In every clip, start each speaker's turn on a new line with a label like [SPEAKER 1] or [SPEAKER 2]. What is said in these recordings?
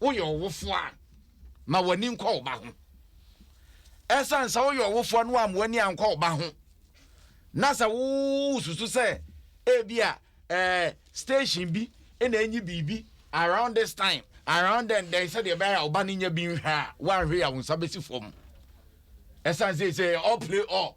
[SPEAKER 1] woyɛ ɔwofoɔ a ma w'ani nkɔ wo ba ho ɛsiane sɛ woyɛ ɔwofoɔ no ama w'ani ankɔ wo ba ho na sɛ wosusu sɛ ebi a eh, station bi na enyi biribi around this time around then then sɛdeɛ ɛbɛyɛ a ɔba no nya bi nhwɛ a woanhwɛ yɛ a wo nsa bɛsi fam ɛsiane sɛ sɛ all play all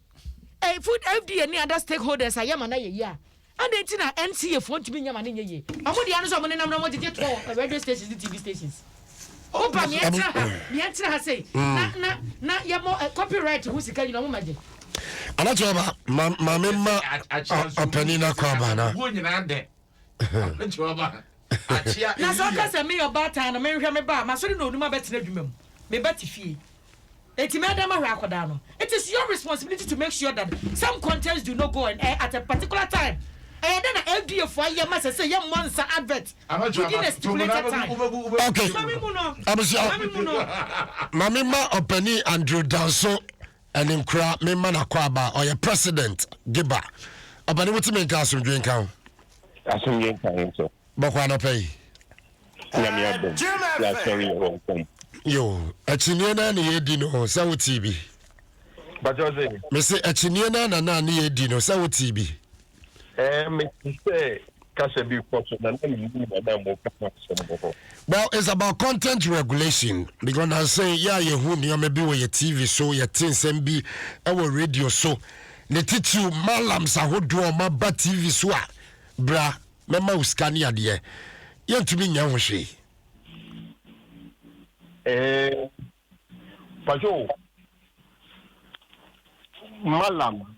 [SPEAKER 2] eh, food FDA ne other stakeholders ayɛ ma no ayɛ yie a adɛn nti na NCA foɔ ntumi nyɛ ma no nyɛ yie ɔmo deɛ no sɛ ɔmo nenam no ɔmo gyegye toɔ radio stations ne TV stations woba neɛ ɛtena ha neɛ ɛtena ha sei mm. na na na yɛmɔ eh, copyright ho sika nyina ɔmo ma gye anakyɛ ɔba
[SPEAKER 3] maame ma ɔpani no akɔ aba no
[SPEAKER 1] Na sɛ ɔka sɛ, Meyɛ
[SPEAKER 2] ɔbaatan no, menhwɛ me ba a, masɔre na onum abɛtena adwuma mu. Me ba te fie. Enti mɛdan mahwɛ akwadaa no. It is your responsibility to make sure that some contents do not go on air at a particular time. Ɛyɛ dɛn na FDA fo ayɛ ma sɛ sɛ yɛmmɔ nsa advert within a stipulated time? Okay.
[SPEAKER 3] Abusua, Maame mma Ɔpanin Andrew Danso Ɛne nkura me ma na kɔ aba ɔyɛ president geba ɔbɛne mo ti me nka asomdwe nka ho. Asomdwe
[SPEAKER 4] nka ho sɛ. Bɔkɔ anɔpɛ yi.
[SPEAKER 3] Nyame adom yasɔre yɛ wɔn kɔm. Yo akyinie naa na yɛdi no sɛ wo tii bi. Bàtɛ
[SPEAKER 4] ɔsè. Mese akyinie
[SPEAKER 3] naa na naa ne yɛdi no sɛ wo tii bi. Ɛɛ,
[SPEAKER 4] mete sɛ kasa bi rekɔ so na na mennim wɔn a wɔreka ho asɛm wɔ hɔ.
[SPEAKER 3] Well, it's about content regulation because nanse yɛ a yɛhu nneɛma bi wɔ yɛ TV so, yɛte nsɛm bi wɔ radio so. Ne titiriw, malams ahodoɔ a wɔaba TV so a, bra, mɛma wo sika ne adeɛ. Yɛntumi nyɛ ho hwee. Ɛɛ,
[SPEAKER 4] patwo, malam.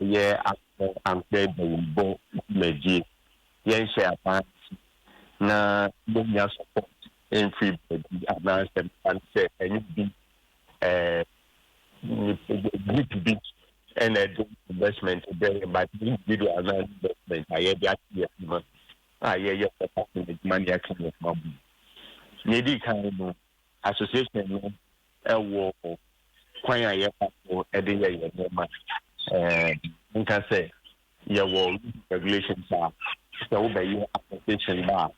[SPEAKER 4] Yɛ asɔ ankorɛ dawurubɔ dwumadie yɛnhyɛ aban ase na yɛnnya support mfiri baabi anaasɛ mefa no sɛ ɛnyɛ obi ɛɛ nip group bi ɛna ɛde investment brɛ yɛn but individual na investment a yɛde ato yɛn adwuma a yɛyɛ sɛ party adwuma na yɛaka yɛn ho abom. Nea ɛdi kan no association no wɔ kwan a yɛfa so de yɛ yɛn nneɛma. Menka sɛ yɛwɔ rules and regulations a sɛ wobɛyɛ application ba a,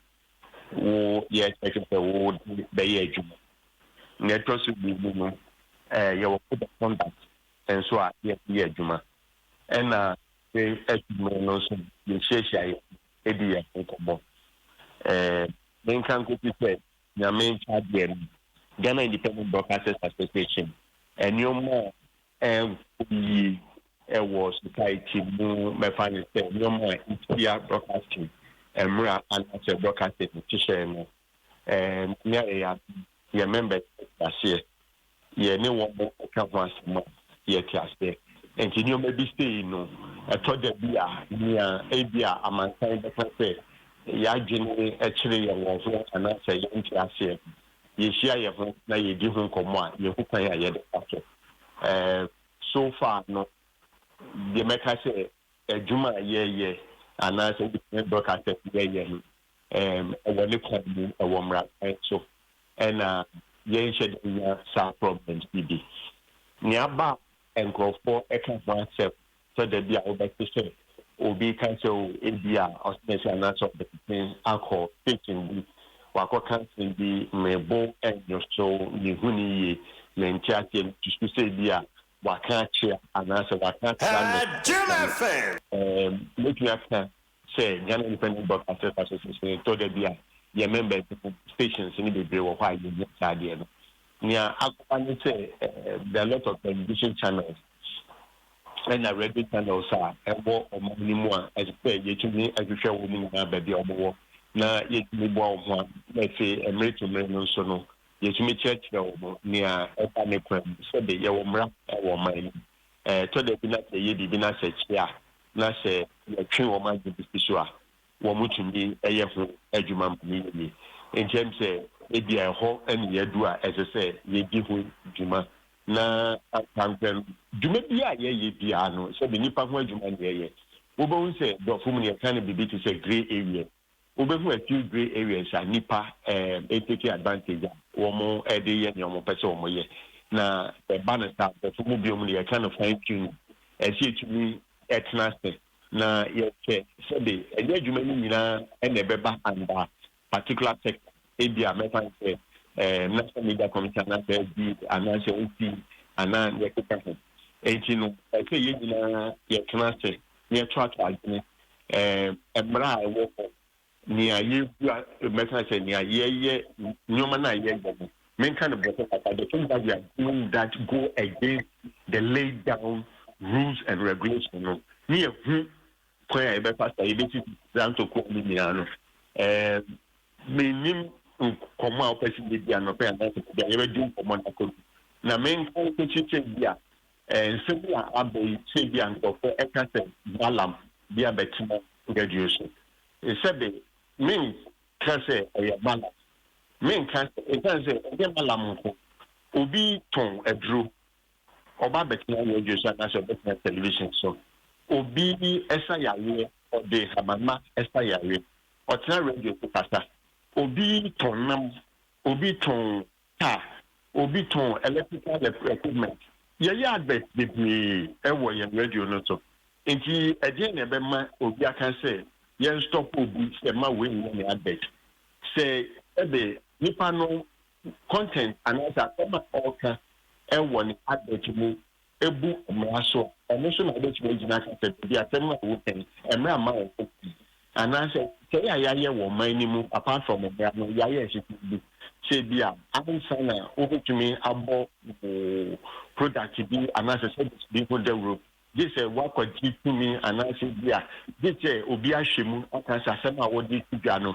[SPEAKER 4] wo yɛkyɛke sɛ wode bɛyɛ adwuma. Nea ɛtɔ so mmienu no, yɛwɔ code of conduct nso a yɛde yɛ adwuma. Ɛna bere adu mmere no nso yɛhyiahyia di yɛn ho nkɔmmɔ. Menka nkosi sɛ Nyame Nkyaadeɛ no, Ghana Independent Broadcasters Association, nnoɔma a ɛnkɔ yie wɔ society mu, mɛfa no sɛ nnoɔma a ɛtia broadcasting mmra anaasɛ broadcasting nhyehyɛɛ no, ɛɛ Nyame ayɛ yɛn adom, yɛn members ate aseɛ, yɛne wɔn reka ho asɛm a, yɛte aseɛ. Enti nneɛma bi sei no, ɛtɔ da bi a, nea ebia amansan bɛka sɛ yɛn adwene kyere yɛn wɔ ho anaasɛ yɛnte aseɛ no, yɛhyia yɛn ho na yɛdi ho nkɔmmɔ a, yɛhu kwan a yɛde fa so. Ɛɛ, so far no, deɛ mɛka sɛ adwuma a yɛyɛ anaasɛ wotumi broadcast a yɛyɛ no, wɔ ne kwan mu wɔ mmara kwan so na yɛnhyɛ da nya saa problems yi bi. Nea aba a nkurɔfoɔ ka ho asɛm sɛ da bi a wobɛte sɛ obi ka sɛ o ebi a ɔsene sɛ anaasɛ ɔde ne akɔ station bi wakɔka asɛm bi mebo nnwo so mehu ne yie mente aseɛ mesusu sɛ ebi a waka akyea anaasɛ waka akyea ne mɛtumi aka Sɛ Ghana Independent Broadcasters Association no tɔ da bi a, yɛn members no stations no bebree wɔ hɔ a yɛnnya saa adeɛ no. Nea akɔba ne sɛ there are a lot of television channels ɛna radio channels a ɛwɔ ɔman no mu a ɛsɛ sɛ yɛtumi hwehwɛ wɔn nyinaa baabi a wɔwɔ na yɛtumi boa wɔn ano na afei mmere to mmere no nso no yɛtumi kyerɛkyerɛ wɔn nea ɛda ne kwan mu sɛde yɛwɔ mmara wɔ ɔman no mu. Ɛtɔ da bi na sɛ yɛyɛ biribi na sɛ ɛkye a, na sɛ yɛtwe wɔn adwene bi si so a, wɔtumi yɛ ho adwuma ma no yɛ yie. Enti ɛwom sɛ ebia ɛhɔ na yɛadu a ɛsɛ sɛ yedi ho dwuma, na ankorankorɛ no, dwuma biara a yɛyɛ biara no, sɛ ɛde nnipa ho adwuma na yɛyɛ, wobɛhu sɛ Borɔfo mu no, yɛka no biribi te sɛ grey areas. Wobɛhu a few grey areas a nnipa take advantage a wɔde yɛ nea wɔpɛ sɛ wɔyɛ. Na sɛ ɛba no saa a, nkurɔfo mu binom no yɛka no fine tuning. Ɛsɛ sɛ yɛtumi tena ase na yɛhwɛ sɛde ɛnyɛ adwuma no nyinaa na ɛbɛba under particular sector. Ebia mɛfa no sɛ National Media Commission anaasɛ FB anaasɛ NC anaa nea ɛkeka ho. Enti no ɛsɛ sɛ yɛn nyinaa yɛtena ase na yɛto ato adwene ɛɛ mmara a ɛwɔ hɔ, nea yɛgu a mɛka sɛ nea yɛyɛ nneɛma no a yɛyɛ no menka no bɔtɔ kakra the things that we are doing that go against the laid down rules and regulations no ne yɛhu kwan a yɛbɛfa sa yɛbɛsi zanto kwan no nyinaa no ɛɛ menim nkɔmmɔ a wopɛ sɛ yɛdi anɔpɛ anaasɛ bia yɛbɛdi nkɔmmɔ no akɔdu na menka wokɔsi sɛ bi a Nsɛm yi a aba yi kyerɛ bi a nkurɔfo ka sɛ Balaam de abɛtena twerɛdua so. Sɛbe menka sɛ ɛyɛ Balaam. Menka sɛ ɛsiane sɛ ɛnyɛ Balaam nko. Obi tɔn aduro, ɔba abɛtena radio so anaasɛ ɔbɛtena television so. Obi sa yareɛ, ɔde nhabanma sa yareɛ, ɔtena radio so kasa. Obi tɔn nam, obi tɔn car, obi tɔn electrical equipment. Yɛyɛ advert bebree wɔ yɛn radio no so. Enti ɛdeɛn na ɛbɛma obi aka sɛ yɛn stop obi sɛ mma wei nyɛ me advert? Sɛ ɛde nipa no content anaasɛ asɛm a ɔreka wɔ ne advert mu bu mmara so a, ɛno so na wobɛtumi agyina aka sɛ dabi, asɛm no a woka yi, mmara mma wɔn ho kwan. Anaasɛ nhyehyɛe a yɛayɛ wɔ ɔman no mu, apart from mmara no, yɛayɛ nhyehyɛe bi sɛ ebia ansa na wobɛtumi abɔ wo product bi anaasɛ service bi ho dawuro, gye sɛ woakwati tumi anaasɛ ebia gye sɛ obi ahwɛ mu aka sɛ asɛm a wode to dwa no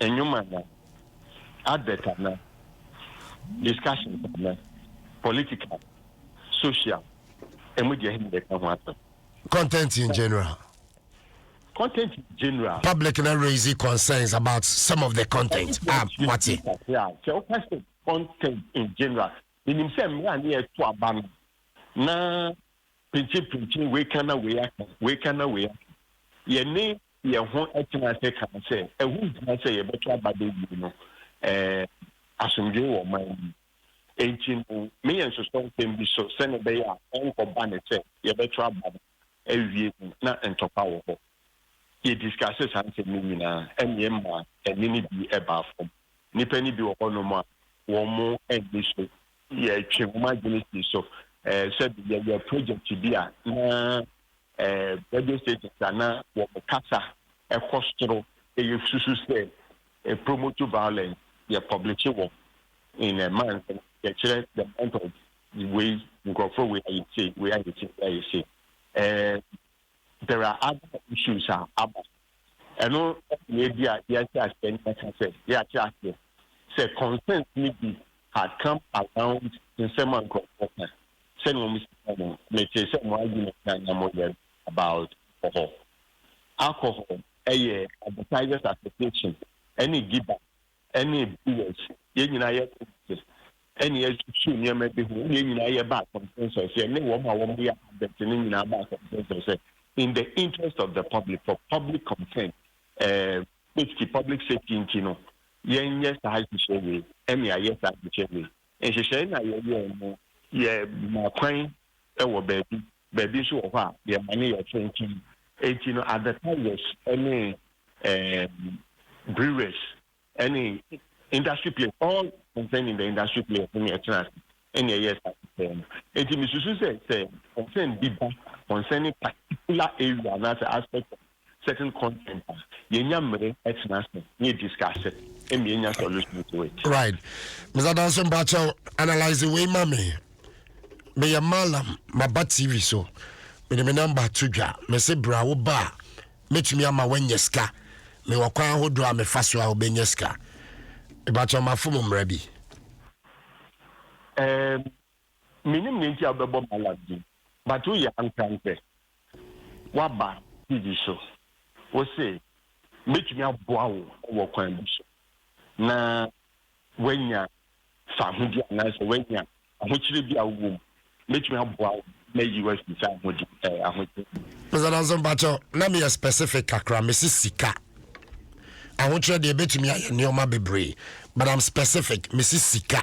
[SPEAKER 4] Nnwom ana? Advert ana? Discussions ana? Political? Social? Emu deɛ ɛhe na yɛka ho asɛm?
[SPEAKER 3] Content in general.
[SPEAKER 4] Content in general. Public na raise
[SPEAKER 3] concerns about some of the content. Ah, wate. Sɛ woka
[SPEAKER 4] sɛ content in general, menim sɛ mmerɛ a ne yɛto aba no na pinkyenpinkyen wei ka na wei aka, wei ka na wei aka. Yɛne yɛn ho tena ase kaa sɛ ɛho nhia sɛ yɛbɛto aba da bio no, ɛɛ, asomdwoe wɔ ɔman no mu. Enti no, me yɛ nsosɔ nsɛm bi so sɛnea ɛbɛyɛ a ɛrenkɔba no sɛ yɛbɛto aba no awie no na ntɔkwa wɔ hɔ. Yediskase saa nsɛm no nyinaa, ɛnna ɛmaa ɛnne no bi baa fam. Nnipa no bi wɔ hɔnom a wɔn ani so yɛtwe wɔn adwene si so eh, sɛ yɛyɛ project bi a na eh, radio stations a na wɔn kasa ɛkɔ soro ɛyɛ susu sɛ eh, promote violence yɛ publish wɔn in a month yɛkyerɛ the month of wei nkurɔfoɔ wei ayɛ sei wei ayɛ sei wei ayɛ sei eh, there are other issues a aba. Ɛno na ebi a yɛahyɛ aseɛ ne yɛaka sɛ yɛate aseɛ sɛ concerns no bi had come around nsɛm a nkurɔfoɔ ka sɛnea wɔn si ka no. Metee sɛ mo argument a na moyɛ no about alcohol. Alcohol yɛ advertisers association ne Gibas ɛne ɛbɛdi yɛn so. Yɛn nyinaa yɛ Christians, ɛne yɛasusu nneɛma bi ho, ɛne yɛn nyinaa yɛbaa consensus, yɛne wɔn a wɔyɛ advent no nyinaa baa consensus sɛ, in the interest of the public, for public concern, ɛɛ, safety, public safety nti no, yɛnyɛ saa nhyehyɛe wei, ɛne yɛayɛ saa nhyehyɛe wei. Nhyehyɛe no a yɛyɛe no, yɛmaa kwan wɔ baabi Baabi nso wɔ hɔ a, yɛn ano yɛ tenten. Enti no, at the Tigers ne ɛɛm, Brewers ne industry players, all concerned in the industry players ne ɛtena ase ne ɛyɛɛ saa pɛpɛɛ no. Enti mesusu sɛ, sɛ concern bi ba concerning particular area anaasɛ aspect of certain content
[SPEAKER 3] a, yɛnya mmere tena ase na yɛ discuss it ma yɛnya solution to it. Right. Mr. Danso mpakyɛw, analyse wei ma me. Meyɛ Malam, maba TV so. Mede me number to dwa. Mese bra wo ba a, mɛtumi ama woanya sika. Mewɔ kwan ahodoɔ a mefa so a wobɛnya sika. Mpakyɛw mafo mo mmara bi. Um,
[SPEAKER 4] Mennim nea nti a wobɛbɔ Balak din but woyɛ ankrantɛ. Woaba TV so wose mɛtumi aboa wo wɔ kwan bi so na woanya fahodie anaasɛ woanya ahokyerɛ bi a wowɔ mu. Mɛtumi aboa wo na mayi wo afiri saa ahokyerɛ no mu. Mr Danso mpakyɛ
[SPEAKER 3] na meyɛ specific kakra mese sika. Ahokyerɛ deɛ ɛbɛtumi ayɛ nnoɔma bebree but I'm specific mese sika.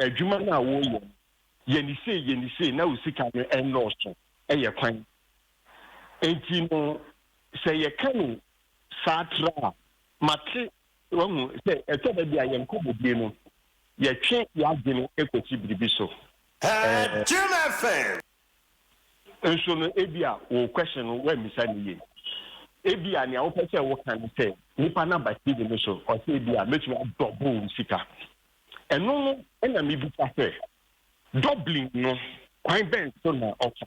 [SPEAKER 4] Adwuma no a woreyɛ no, yɛ no sei, yɛ no sei, na wo sika no nnɔɔso. Ɛyɛ kwan. Enti no, sɛ yɛka no saa tra a, mate, wahu, sɛ ɛtɔ da bi a yɛn nkɔmmɔdie no, yɛtwe y'adwene kɔsi biribi so.
[SPEAKER 5] Ɛɛ.
[SPEAKER 4] Nso no, ebia wo question no, woammisa no yie. Ebia nea wopɛ sɛ woka ne sɛ, nipa no aba TV no so, ɔsɛ ebia mɛtumi adɔbol wo sika. Ɛno no na mibisa sɛ, Dublin no, kwan bɛn so na ɔfa?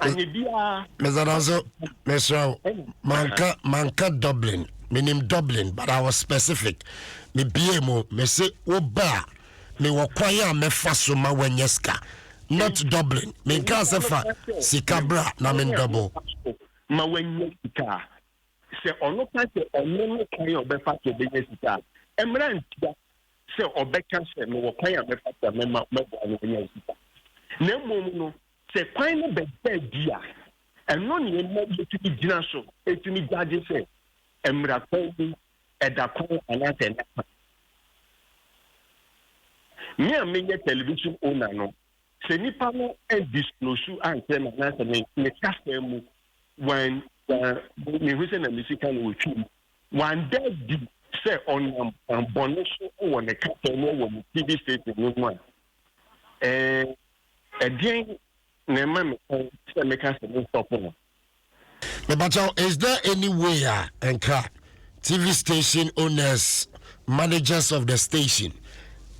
[SPEAKER 4] Anyɛ biara.
[SPEAKER 3] Mesadanso, mesrɛ wo, manka, manka Dublin. Menim Dublin, but I was specific. Mebie mu, mese wo ba a, mewɔ kwan a mɛfa so ma wanya sika. Not Dublin. Menkaa sɛ fa sika bra na mendɔbo. Ma
[SPEAKER 4] wanya sika. Sɛ ɔno ka sɛ ɔno ne kwan a ɔbɛfa so bɛnya sika a, ɛmmra ntia sɛ ɔbɛka sɛ, Mewɔ kwan a mɛfa so a mɛma mɛboa no anya sika. Na mmom no, sɛ kwan no bɛda adi a, ɛno na ɛma yɛtumi gyina so tumi gyagye sɛ ɛmmra kwan mu, ɛda kwan anaasɛ ɛnna kwan. Me a meyɛ television owner no, Sɛ nnipa no andiskloosu ankyerɛ me anaasɛ me me kasa mu wan wan mehu sɛ na me sika na wɔtwi mu wanda di sɛ ɔnam kwan bɔne so wɔ ne kasa mu wɔ me TV station no mu a ɛɛ ɛdeɛn na ɛma me kwan sɛ meka sɛ me nsɔpo no.
[SPEAKER 3] Mepakyɛw, is there any way a nka TV station owners, managers of the station,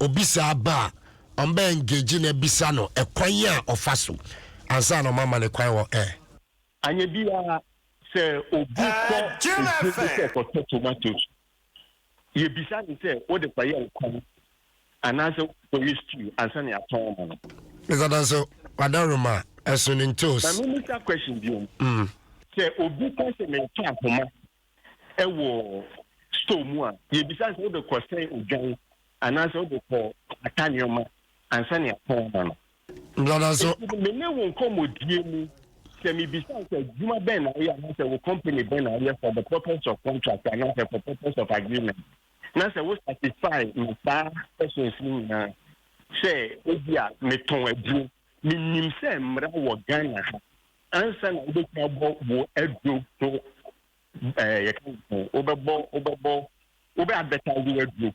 [SPEAKER 3] obi saa ba a, ɔmbɛ engage na bisa no ɛkwan a ɔfa so ansa na ɔmama ne kwan wɔ air? Anyɛ
[SPEAKER 4] biaa, sɛ obi kɔ edwuma mu sɛ ɔkɔtɔ tomatoes Yebisa no sɛ, Wode kɔyɛ nkwan anaasɛ wode kɔyɛ stew ansa na yɛatɔn ama no? Mr Danso, w'adaworoma
[SPEAKER 3] a,
[SPEAKER 4] ɛso ne
[SPEAKER 3] ntoos.
[SPEAKER 4] Ma memmisa
[SPEAKER 3] question biom.
[SPEAKER 4] Mm.
[SPEAKER 3] Sɛ
[SPEAKER 4] obi ka sɛ meretɔ ahoma wɔ store mu a, yebisa no sɛ, Wode kɔsɛn odwan anaasɛ wode kɔkata nneɛma ansa na yɛatɔn ama no? Brother so. Enti
[SPEAKER 3] me ne wo
[SPEAKER 4] nkɔmmɔdie mu, sɛ mebisa wo sɛ adwuma bɛn na woyɛ anaasɛ wo company bɛn na woyɛ for the purpose of contract anaasɛ for purpose of agreement, na sɛ wo satisfy me saa questions no nyinaa sɛ ebi a metɔn aduro, menim sɛ mmara wɔ Ghana ha ansa na wobɛtumi abɔ wo aduro ho ɛɛ yɛka no sɛ wobɛbɔ wobɛbɔ wobɛ advertise w'aduro.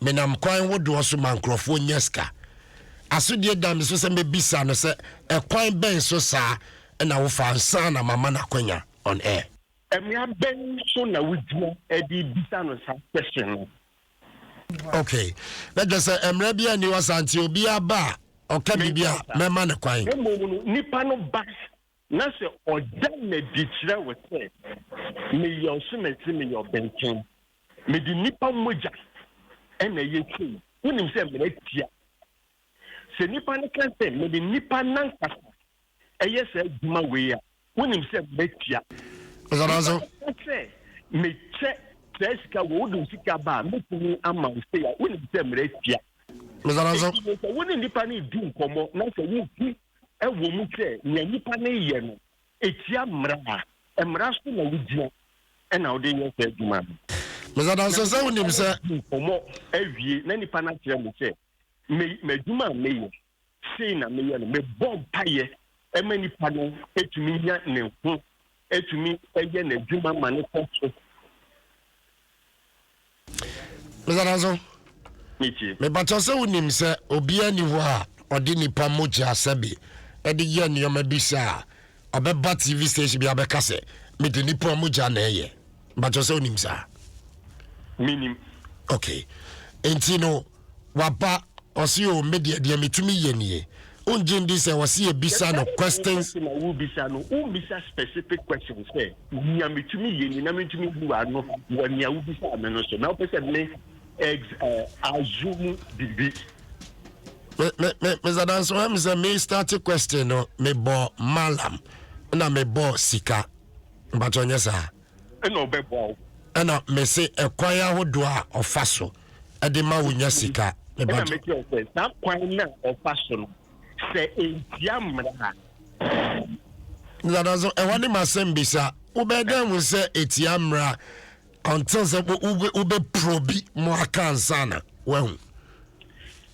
[SPEAKER 3] Menam kwan wodoɔ so ma nkurɔfoɔ nya sika. Asodie da me so sɛ mɛbisa no sɛ ɛkwan bɛn so saa na wofa ansa na mama no akwanya on air. Mmara bɛn
[SPEAKER 4] so na wogyina de bisa no saa question no? Ok,
[SPEAKER 3] na kyerɛ sɛ mmara biara nni hɔ saa nti obiara ba a ɔka biribi a mɛma no kwan. Na mmom no, nipa no
[SPEAKER 4] ba Na sɛ ɔda no adi kyerɛ wo sɛ meyɛ ɔsomasi, meyɛ ɔbenten, mede nnipa mogya na ɛyɛ sei, wonim sɛ mmara tia. Sɛ nnipa no ka sɛ mede nnipa no ankasa yɛ saa adwuma wei a, wonim sɛ mmara tia. Nnipa no
[SPEAKER 3] ka sɛ
[SPEAKER 4] mekyɛ saa sika wei, wode wo sika ba a, mɛtumi ama wo sei a, wonim sɛ mmara tia. Enti no
[SPEAKER 3] sɛ wo ne nnipa
[SPEAKER 4] no redi nkɔmmɔ na sɛ wohu Ɛwɔ mu sɛ nea nnipa no reyɛ no tia mmara a, mmara so na wogyina na wode reyɛ saa adwuma no. Meda adanse
[SPEAKER 3] sɛ wunim sɛ. Di nkɔmmɔ
[SPEAKER 4] awie na nipa no akyerɛ me sɛ, Me, m'adwuma a meyɛ, sei na meyɛ no. Mebɔ mpaeɛ ma nipa no tumi nya ne ho tumi
[SPEAKER 3] yɛ n'adwuma ma no kɔ so. Mr. Nanso, mebatɔ sɛ wonim sɛ obiara ni hɔ a ɔde nipa mogya sɛbe de yɛ nneɛma bi sɛ a ɔbɛba tv station bi abɛka sɛ mede nipa mogya na ɛyɛ batɔ sɛ wonim saa menim okay nti no Waba, ɔse o me deɛ deɛ metumi yɛ nie. Wongye ndi sɛ ɔse yɛ bisa no questions. The kind of question a wobisa no,
[SPEAKER 4] wommisa specific questions sɛ nea metumi yɛ nie na mentumi bu ano wɔ nea wobisaa me no so na wopɛ sɛ me ex eh, assume biribi.
[SPEAKER 3] Me me me Mr. Danso, ɔyɛ me sɛ me start question no mebɔ malam na mebɔ sika. Mpakyɛ ɔnyɛ saa.
[SPEAKER 4] ɛna ɔbɛboa wo. ɛna mese
[SPEAKER 3] ɛkwan ahodoɔ a ɔfa so ɛde ma wo nya sika. ɛna mete ɔsɛ saa kwan
[SPEAKER 4] na ɔfa so no sɛ ɛntia mmara.
[SPEAKER 3] Nana so ɛhɔ ne masɛm bisa wobɛɛ dɛn ho sɛ ɛtia mmara until sɛ wobɛ probi mo aka ansana wahu.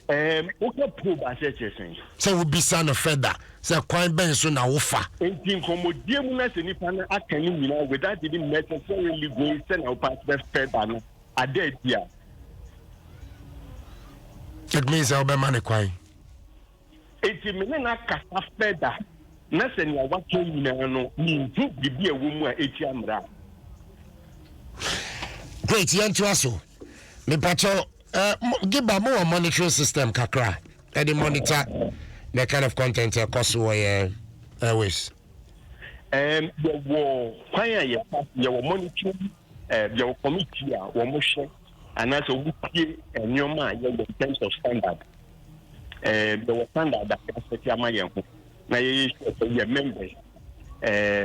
[SPEAKER 4] Ɛɛm, woka probe ase a ɛkyerɛ sɛn? Sɛ wobisa no
[SPEAKER 3] further sɛ kwan bɛn so na wofa. Enti nkɔmmɔdie
[SPEAKER 4] mu na sɛ nipa no aka ne nyinaa without even necessarily going sɛ na wopɛ asɛ further no ada adi a.
[SPEAKER 3] It means sɛ wobɛma no kwan.
[SPEAKER 4] Enti me ne no akasa further na sɛ nea waka nyinaa no menhu biribi a ɛwɔ mu a ɛtia mmara a.
[SPEAKER 3] Great, yɛntoa so. Mepakyɛw, eh, Giba, mo wɔ monitoring system kakra, ɛde monitor the kind of content ɛkɔ so wɔ yɛ airways? Um, yɛwɔ
[SPEAKER 4] kwan a yɛfa yɛwɔ monitoring, eh, yɛwɔ committee a wɔn hwɛ anaasɛ wɔn tie nneɛma a yɛwɔ in terms of standard. Eh, yɛwɔ standard a yɛasɛte ama yɛn ho na yɛyɛ sure sɛ yɛ members, eh,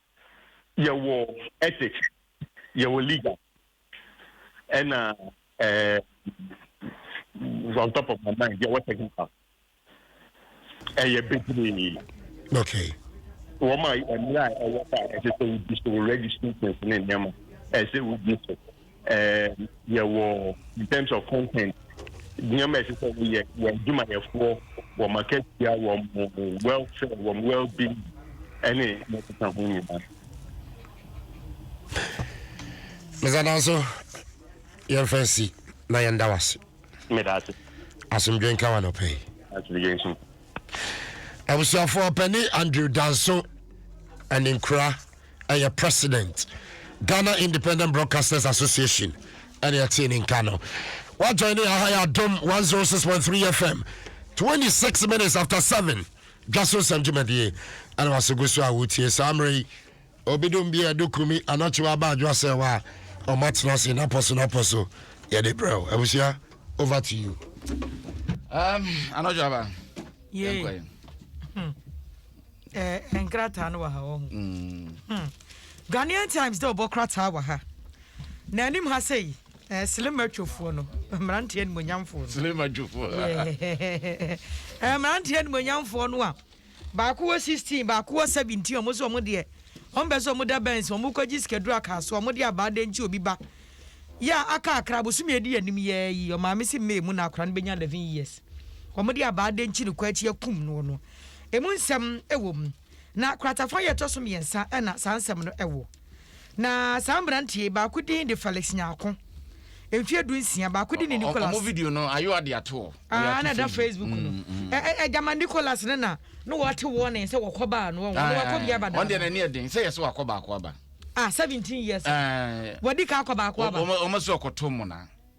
[SPEAKER 4] Yɛwɔ ethics, yɛwɔ legal ɛna ɛɛ on top of my mind yɛwɔ technical. Ɛyɛ bebree.
[SPEAKER 3] Okay. Wɔn
[SPEAKER 4] a mmira a ɛwɔ hɔ a ɛsɛ sɛ wodi so registry things ne nneɛma ɛsɛ wodi so. um, yɛwɔ in terms of content nneɛma ɛsɛ sɛ wɔyɛ wɔ adwumayɛfoɔ wɔ makatua wɔ mo welfare wɔ mo well being ɛne ɛkeka ho nyinaa.
[SPEAKER 3] mesadan so yɛmfa nsi na yɛnda wo ase meda ase
[SPEAKER 4] asomdwe
[SPEAKER 3] nka wa nɔpɛ yi asomdwe nso abusuafoɔ pɛne andrew danso ɛne nkura ɛyɛ president ghana independent broadcasters association ɛne ɛtee ne nka no wajoin ne aha yɛ adom 106.3 fm 26 minutes after 7 dwa so nsɛm dwumadie ɛne waso gu so a wotie saa mmerɛ yi obidom bi a ɛdo kumi anɔkye wa aba adwoa sɛ wa ɔma tena se napɔ so napɔ so yɛde brɛw abusua over to you um,
[SPEAKER 1] anɔdwo aba yɛnkɔɛ
[SPEAKER 2] hmm. ɛɛ nkrataa no wɔ ha wɔ ho. Mm. Hmm. ghanaian times dɛ ɔbɔ krataa wɔ ha na anim ha sɛ yi ɛɛ eh, silima twofoɔ no mmeranteɛ animonyamfoɔ no silima twofoɔ
[SPEAKER 1] ɛɛ eh,
[SPEAKER 2] mmeranteɛ animonyamfoɔ no a baako wɔ sixteen baako wɔ seventeen wɔn nso wɔn deɛ wɔn bɛ sɛ wɔn da bɛnsi wɔn kɔ gyi sikaduro aka so wɔn de abaa de nti obi ba yɛ aka akra bosomi edi anim yɛ yi ɔmaame si mmee mu na akora no bɛ nya eleven years wɔn de abaa de nti ne kɔ akyi akum no no. emu nsɛm wɔ mu, na kratafa a ɛtɔ so mmiɛnsa na saa nsɛm no wɔ. Na saa mmeranteɛ yi, baako din de Felix Nyarko, mfeɛ du nsia, baako din de Nicholas. Ɔmo video no, ayewa
[SPEAKER 1] de ato hɔ. Ah, na ɛda Facebook
[SPEAKER 2] no. Ɛgyama Nicholas no na na wɔate warning sɛ wɔkɔ baa no, wɔn wɔkɔ bia bada. Ɔno deɛ n'ani ɛden sɛ yɛ sɛ
[SPEAKER 1] wakɔ baako aba. Ah, seventeen
[SPEAKER 2] years. Wɔdi ka akɔ baako aba. Ɔmo sɛ ɔkɔto mo
[SPEAKER 1] na.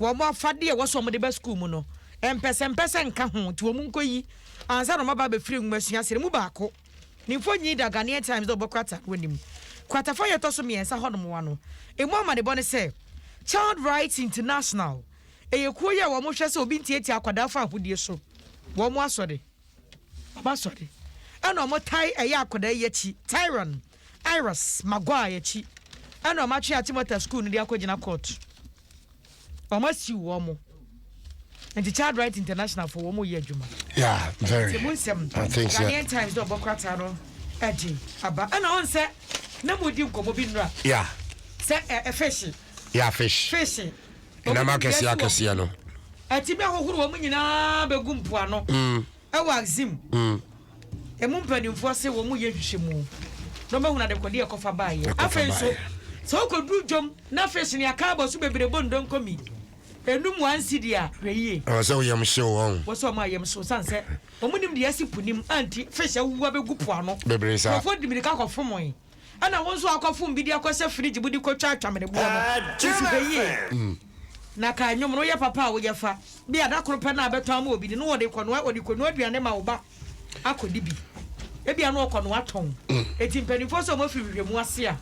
[SPEAKER 2] Wɔn afadeɛ a ɛwɔ sɛ wɔde ba sukuu mu no, mpɛsɛmpɛsɛ nka ho, nti wɔnkɔyi ansa na wɔaba abɛfiri nwomasua ase no mu baako. Ne mfonin da Ghanaian Times dɛ ɔbɔ Kwata no anim. Kwata fa a ɛtɔ so mmiɛnsa hɔnom wa no, ɛmu amanebɔ ne sɛ Child Rights International, ɛyɛ kuo yi a wɔhwɛ sɛ obi ntiatia akwadaa fa ahodie so, wɔn asɔre, wɔn asɔre, ɛna wɔtae ɛyɛ akwadaa yi akyi, Tyron. Iris Maguire akyi na wɔn atwe Ate Motor School no de akɔgyina court. Wɔn asiw wɔn. Nti Child Right International fo wɔn yɛ adwuma. Yeah, very. Nti mu
[SPEAKER 3] nsɛm. I think so.
[SPEAKER 2] Ghanaian Times dɛ ɔbɔ krataa no ɛgye aba. Ɛna ɔn sɛ na mo di nkɔmɔ bi nura. Yeah. Sɛ
[SPEAKER 3] ɛ ɛ
[SPEAKER 2] fish. Yeah, fish.
[SPEAKER 3] Fish. Ɛnam akɛseɛ akɛseɛ no. Ɛti bɛ hohoro
[SPEAKER 2] wɔn nyinaa bɛ gu mpoano. Mm. Ɛwɔ Axim. Mm. Emu mpanimfoɔ se wɔn reyɛ nhwehwɛmu na wɔbɛhunu adekodeɛ a ɛkɔfa baeɛ. Afei nso, sɛ wokɔduru dwom na afei so nea kaa bɔ so bebree bɔ ndonko mi enum one cedi a, hwɛ yie. Ɛwɔ sɛ wo yam hyew
[SPEAKER 3] wɔn. Ɛwɔ sɛ wɔn a yam hyew sane
[SPEAKER 2] sɛ wɔn nim deɛ asi po nim anti fish awuwu abɛgu po ano. Bebree saa. Nkurɔfoɔ de mirika
[SPEAKER 3] kɔfom wɔn.
[SPEAKER 2] Ɛna wo nso akɔ fom bi de akɔ sɛ fridge mu de kɔ twa atwamene boɔ no wo si hwɛ yie na ka ɛnwom no yɛ papa a wo yɛ fa bi a da koro pɛ na abɛtɔ ama obi no no wɔde kɔ noa wɔde kɔ noa aduane ma wo ba akɔ di bi ebi ano ɔkɔ noa tɔn eti mpanyinfoɔ sɛ wɔn afiri hwehwɛ mu ase a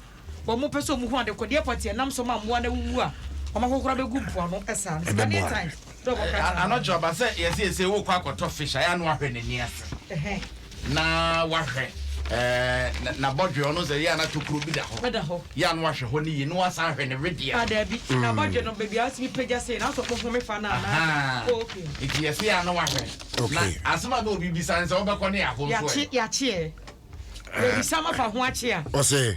[SPEAKER 2] wɔn pɛ sɛ wɔn hu adekodeɛ pɔteɛ nam so ma mmoa na wuwu a wɔn ahohora bɛ gu mpoano ɛsaa no sɛ adeɛ time. Anɔkyerɛ ɔba
[SPEAKER 1] sɛ yɛsɛ yɛsɛ wokɔ akɔtɔ fish ayɛ ano ahwɛ n'ani ase na wahwɛ ɛɛ n'abɔdwe ɔno sɛ yɛ ana tokuro bi da hɔ yɛ ano ahwɛ hɔ ne yie na wasan ahwɛ ne wedeɛ. Adaabi ah, n'abɔdwe
[SPEAKER 2] no baabi a ɔsi bi pagya sei na asɔ kpɔhome fa na ana. Oh, okay. Nti yɛsɛ yɛ ano
[SPEAKER 1] ahwɛ. Na asɛm a na obi bisa ne sɛ wobɛkɔ ne yɛ ahosuo. Yɛakye yɛakyeɛ.
[SPEAKER 2] Yɛbisa ma fa ho akye a. Ɔsɛ.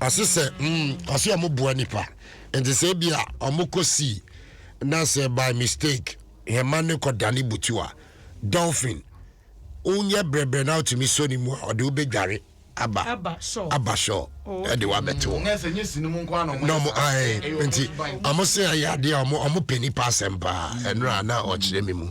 [SPEAKER 3] ɔse sɛ mm, ɔse ɔmo boa nipa nti sɛ ebi a ɔmo kɔ sii na sɛ by mistake hɛma ne kɔ dane butu a dolphin wonyɛ brɛbrɛ na wotumi sɔ ne mu a ɔde wobɛdware aba aba sure aba sure Oh, ɛde wabɛte hɔ Nɛ sɛ nyɛ sini mu nko
[SPEAKER 1] ano na ɔmo ae nti
[SPEAKER 3] ɔmo se ɛyɛ adeɛ a ɔmo ɔmo pɛ nipa asɛm paa ɛno a na ɔkyerɛ me mu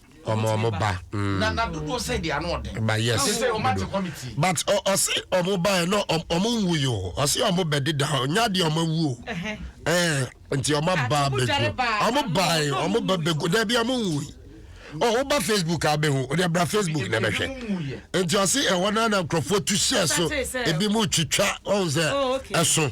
[SPEAKER 3] ɔmo ɔmo ba na na dodoɔ sɛ
[SPEAKER 1] deɛ ano ɔden ba yes ɛsɛ sɛ ɔmo ate committee but ɔsi
[SPEAKER 3] ɔmo ba yɛ no ɔmo nwu yi o ɔsi ɔmo bɛ deda ɔnyɛ adeɛ ɔmo awu o ɛɛ nti ɔmo aba abɛgu ɔmo ba yɛ ɔmo bɛ bɛgu dɛbi ɔmo nwu yi ɔmo ba facebook abɛhu ɔde abira facebook na ɛbɛhwɛ nti ɔsi ɛwɔ na na nkurɔfoɔ tu hyɛ so ebi mu twitwa ɔmo sɛ ɛso.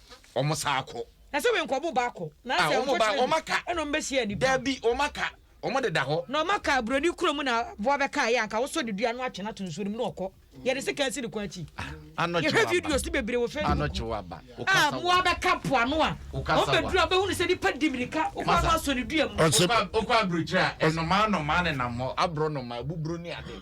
[SPEAKER 1] wɔn san akɔ. Na sɛ wɔn nkɔ wɔn ba
[SPEAKER 2] akɔ. Na sɛ wɔn kɔ kyerɛ bi ɛna
[SPEAKER 1] wɔn bɛ hyia nipa. Dabi
[SPEAKER 2] wɔn aka
[SPEAKER 1] wɔn de da hɔ. Na wɔn aka broni kuro
[SPEAKER 2] mu na aboa bɛ ka yɛ anka wɔsɔ ne dua no atwe no ato nsuo no mu na ɔkɔ. Yɛ de sika asi ne kwan akyi. Yɛ hwɛ videos
[SPEAKER 1] no bebree
[SPEAKER 2] wɔ facebook. A
[SPEAKER 1] mmoa bɛ ka
[SPEAKER 2] po ano a wɔn bɛ duru a wɔn bɛ hunu sɛ nipa di mirika ɔkɔ ano asɔ ne dua mu. Ɔkɔ aburokyire
[SPEAKER 1] a ɛnomaa nomaa ne nam hɔ aborɔ nomaa buburo ne ade.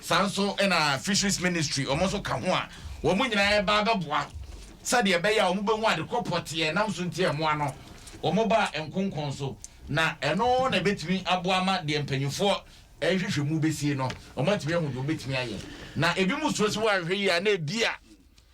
[SPEAKER 1] Saa nso na Fisheries Ministry, wɔn nso ka ho a wɔn nyinaa reba abɛboa sɛdeɛ ɛbɛyɛ a wɔbɛhu ade korɔ pɔtee a ɛnam so nti a mmoa no wɔbaa nkonkɔn so, na ɛno na ɛbɛtumi aboa ama deɛ mpanimfoɔ rehwehwɛ mu bɛsie no, wɔatumi ahu deɛ wɔbɛtumi ayɛ. Na ebinom suro sɛ wɔanhwɛ yie a na ebia.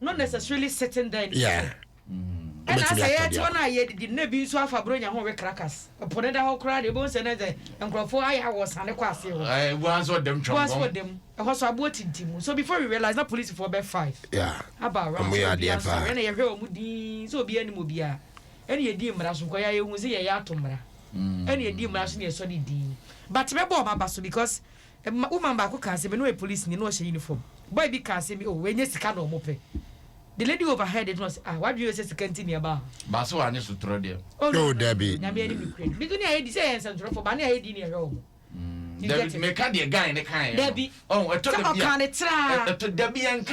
[SPEAKER 2] no necessarily sitting there anymore.
[SPEAKER 3] Yeah.
[SPEAKER 2] Mm. ɛna sɛ yɛte hɔ no a yɛdidi no na ebi nso afa buronya ho we krakas po no da hɔ koraa deɛ ɛbɛhu sɛ ne sɛ nkurɔfoɔ ayɛ awɔ sane kɔ aseɛ hɔ eh, buan sɛ ɔdam twam
[SPEAKER 1] sɛ ɔdam ɛhɔ so
[SPEAKER 2] aboɔ tintim mu so before we realize na polisifoɔ bɛ five yeah. aba
[SPEAKER 3] around sɛ
[SPEAKER 2] obiara nso sɛ ɛna yɛhwɛ
[SPEAKER 3] wɔn din
[SPEAKER 2] sɛ obiara anim obiara ɛna yɛdi mmara so kɔ yɛ ayɛhu sɛ yɛyɛ ato mmara ɛna yɛdi mmara so na yɛsɔ ne din but bɛbɔ ɔma ba so because Ɛma woman baako kaa sɛ me no ɔyɛ polisini na ɔhyɛ uniform. Boy bi kaa sɛ me oh wei nyɛ sika na ɔmo pɛ. The lady overheard it na ɔse ah w'adwene yɛ sɛ sika nti na yɛba ha. But sɛ wanyɛ sotorɔ
[SPEAKER 1] deɛ. Oh no no no no no
[SPEAKER 3] Nyame anim nokorɛ ni. Bi to
[SPEAKER 2] ne ayɛ di sɛ yɛyɛ nsɛntwerɛfoɔ but ne ayɛ di ne yɛhwɛ ɔmo. Dabi
[SPEAKER 1] meka deɛ guy no kaeɛ no. Dabi. Ɔho ɛtɔ dabi
[SPEAKER 2] a. Sɛ ɔkaa
[SPEAKER 1] no traa. Ɛtɔ
[SPEAKER 2] dabi yɛnka.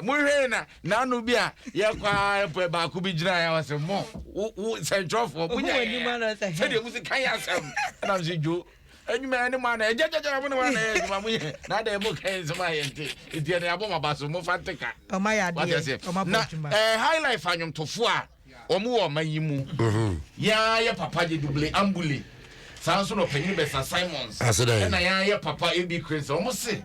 [SPEAKER 1] Monhwɛe na n'ano bi a yɛkɔ ara pɛ baako bi gyinaeɛ a ɔse mo wo wo sɛntwerɛfoɔ Ohu monya w'anim yɛn ano a sɛ, hɛ. sɛdeɛ mosi ka yɛ asɛm ɛnam sɛ dwo adwuma yɛ ne mo ana ɛgyagyagyara mo ne mo ana yɛ adwuma mo yɛ na adɛn mo ka yɛ nsɛm a yɛnte nti ɛne abɔ mo aba so mo fa nte ka Ɔma yɛ wate adeɛ, aseɛ
[SPEAKER 2] ɔma bɔ na adwuma. eh, highlife
[SPEAKER 1] anwomtofoɔ a Wɔn wɔ ɔman yi mu. Yɛn yɛ papa gye Dubule Ambule. Saa nso na ɔpanyin Bɛsa Simons ɛna yɛn yɛ papa AB Cranes. Wɔn se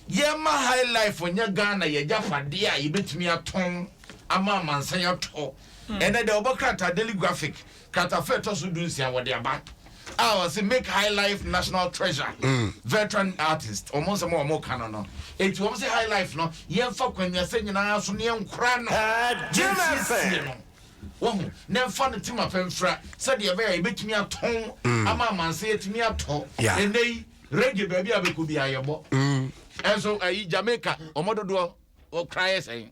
[SPEAKER 1] yɛma high life nyɛ Ghana yɛ agyapadeɛ a yɛbɛtumi atɔn ama amansan atɔ. Ɛnɛ dɛ wɔbɔ krataa Daily Graphic kratafo a ɛtɔ so du nsia wɔde aba. a ɔse make high life national treasure veteran artist wɔn nsɛm a wɔn ka no no eti wɔn se high life no yɛn fa kwanwiasɛ nyinaa so ne yɛn kora no yɛn siesie no wɔho na ɛnfa no tema pɛ mfra sɛdeɛ ɛbɛyɛ a yɛbɛtumi atɔn mm. ama amansa yɛtumi atɔ ɛnɛ yi reggae baabi a bɛkɔ bi ayɛbɔ ɛnso ayi Jamaica wɔn dodoɔ wɔkora yɛ sɛn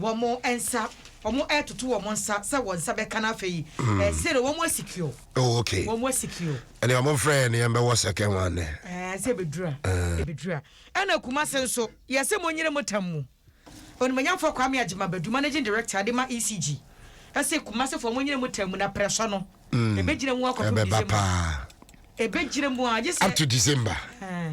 [SPEAKER 2] wɔn nsa, wɔn ɛtoto wɔn nsa sɛ wɔn nsa bɛka no afei mm. ɛsɛ no wɔn asikio oh, okay. wɔn
[SPEAKER 3] asikio
[SPEAKER 2] ɛne wɔn frɛ yɛ ne
[SPEAKER 3] yɛn bɛwɔ sɛkɛn wɔn anɛ ɛɛ sɛ ebedura
[SPEAKER 2] eh. ebedura ɛna kuma se nso yɛsɛ mo nyere mo tam mu onimanyamfo kwame agyima badu managing director de ma ecg ɛsɛ kuma se fo mo nyere mo tam mu na prɛsɔ no mm. ebegyina mu akɔfo december ebegyina mu a gyesɛ up to december ɛɛ. Eh.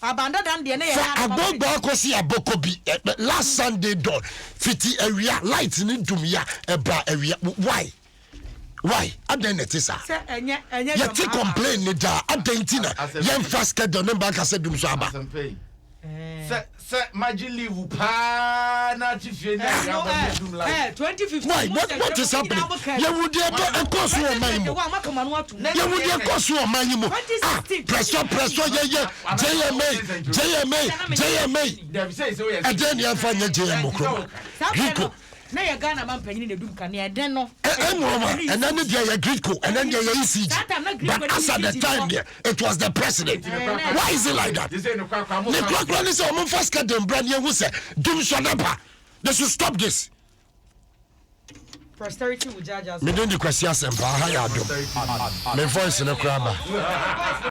[SPEAKER 2] Fa agbɔgbɔ
[SPEAKER 3] akosi abɔkɔ bi last Sunday dawn fiti awia light ne dum ya ɛba awia why why adɛn na ɛte saa yɛte complain ne daa adɛn nti na yɛmfa schedule ne mba nkasɛ dum so aba sɛ
[SPEAKER 1] sɛ magye leave paa na ate fie ne awia
[SPEAKER 2] abɔ ne dum light why what, what is happening
[SPEAKER 3] yɛwu deɛ ɛbɛ ɛkɔ so wɔ man mu Yɛhu deɛ ɛkɔ so wɔ ɔman yi mu. Ah, prɛsɔ, prɛsɔ, yɛyɛ JMA, JMA, JMA. Ɛdɛn ne yɛmfa nyɛ JM Nkrumah, Gridco. Na yɛ Ghana ma mpanyini na edum
[SPEAKER 2] kanea ɛdɛn no. Nkrumah, ɛnɛ
[SPEAKER 3] ne deɛ yɛ Gridco, ɛnɛ ne deɛ yɛ ECG. But as at the time deɛ, it was the president. Why is it like that? Ne kurakura ne sɛ wɔn mfa sika den bra ne yɛhu sɛ dum sɔ n'aba. They should stop this.
[SPEAKER 2] Meden de
[SPEAKER 3] kwasi asɛmpa
[SPEAKER 2] aha
[SPEAKER 3] yɛ adom
[SPEAKER 2] me
[SPEAKER 3] voice no koraa ba.